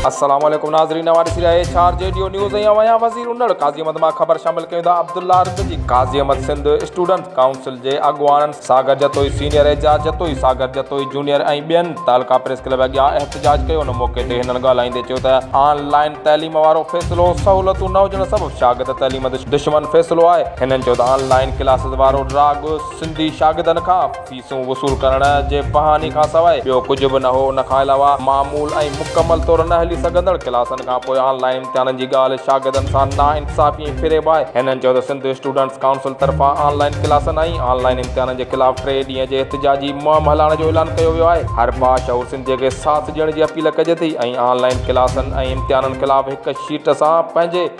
السلام عليڪم ناظرين اوهان ڏسي رهيا اهي چار جي ڊيو نيوز ۽ اوهان وزير انڙ قاضي احمد مان خبر شامل ڪيون ٿا عبدالله رض جي قاضي احمد سنڌ اسٽوڊنٽس ڪائونسل جي اڳواڻن ساگر جتوئي سينيئر اعجاز جتوئي ساگر جتوئي جونيئر ۽ ٻين تعلقه پريس ڪلب اڳيان احتجاج ڪيو ان موقعي تي هنن ڳالهائيندي چيو ته آن لائين تعليم وارو فيصلو سهولتون نه هجڻ سبب شاگرد تعليم دشمن فيصلو آهي هنن چيو ته آن لائين ڪلاسز وارو ڊراگ سنڌي شاگردن کان فيسون وصول ڪرڻ جي بهاني کان سواء ٻيو ڪجهه به نه هو، ان کان علاوه معمول ۽ مڪمل طور نه هلي سگهندڙ ڪلاسن کان پوء آن لائين امتحانن جي ڳالهه شاگردن سان ناانصافي ۽ فريب آهي. هنن چيو ته سنڌ اسٽوڊنٽس ڪائونسل طرفان آن لائين ڪلاسن ۽ آن لائين امتحانن جي خلاف ٽي ڏينهن جي احتجاجي مهم هلائڻ جو اعلان ڪيو ويو آهي، هر باشعور سنڌي کي ساٿ ڏيڻ جي اپيل ڪجي ٿي ۽ آن لائين ڪلاسن ۽ امتحانن خلاف هڪ شيٽ سان پنهنجي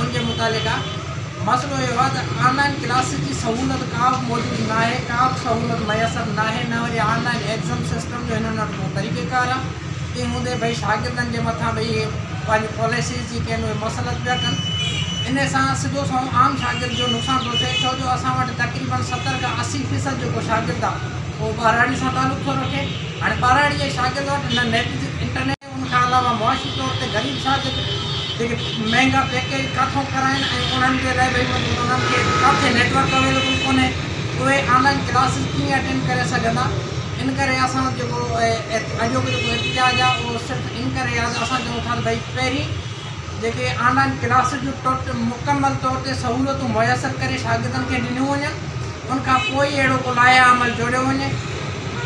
ان جي متعلق مسئلو اهو آهي ته آن لائن ڪلاسز جي سهولت ڪا به موجود ناهي، ڪا به سهولت ميسر ناهي، نه وري آن لائن ايگزم سسٽم جو هنن وٽ ڪو طريقه ڪار آهي، تنهن هوندي به شاگردن جي مٿان به اهي پنهنجي پاليسيز جيڪي آهن اهي مسلط پيا ڪن، ان سان سڌو سنئون عام شاگرد جو نقصان ٿو ٿئي ڇو جو اسان وٽ تقريبن ستر کان اسي فيصد جيڪو شاگرد آهي اهو ٻهراڙي سان تعلق ٿو رکي، هاڻي ٻهراڙي جي شاگرد وٽ نه نيٽ انٽرنيٽ. ان کان علاوه معاشي طور تي غريب ساٿ جيڪي مهنگا پيڪيج ڪاٿو ڪرائين ۽ انهن جي لاء ڀئي مطلب انهن کي ڪاٿي نيٽورڪ اويليبل ڪونهي اهي آن لائين ڪلاسز ڪيئن اٽينڊ ڪري سگهندا ان ڪري اسان جيڪو اڄوڪو جيڪو احتجاج آهي اهو صرف ان ڪري آهي ته اسان چئون ٿا ته ڀئي پهرين جيڪي آن لائين ڪلاسز جون ٽوٽ مڪمل طور تي سهولتون ميسر ڪري شاگردن کي ڏنيون وڃن ان کان پوء ئي اهڙو ڪو لائحه عمل جوڙيو وڃي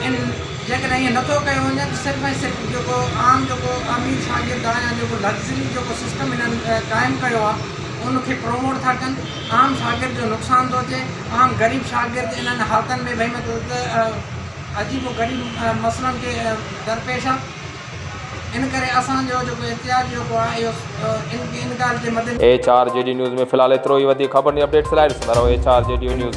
ان جيڪڏهن ائين نه ٿو ڪيو وڃي ته صرف ۽ صرف جيڪو عام جيڪو امير شاگرد آهي يا جيڪو لگزري جيڪو سسٽم هنن قائم ڪيو آهي ان کي پروموٽ ٿا ڪن عام شاگرد جو نقصان ٿو اچي عام غريب شاگرد انهن حالتن ۾ ڀئي مطلب عجيب و غريب مسئلن کي درپيش آهي ان ڪري اسان جو جيڪو احتجاج جيڪو آهي اهو ان ان ڳالهه جي مدنظر H R G D news ۾ في الحال ايترو ئي وڌيڪ خبرن ۽ اپڊيٽس لاء ڏسندا رهو H R G D news.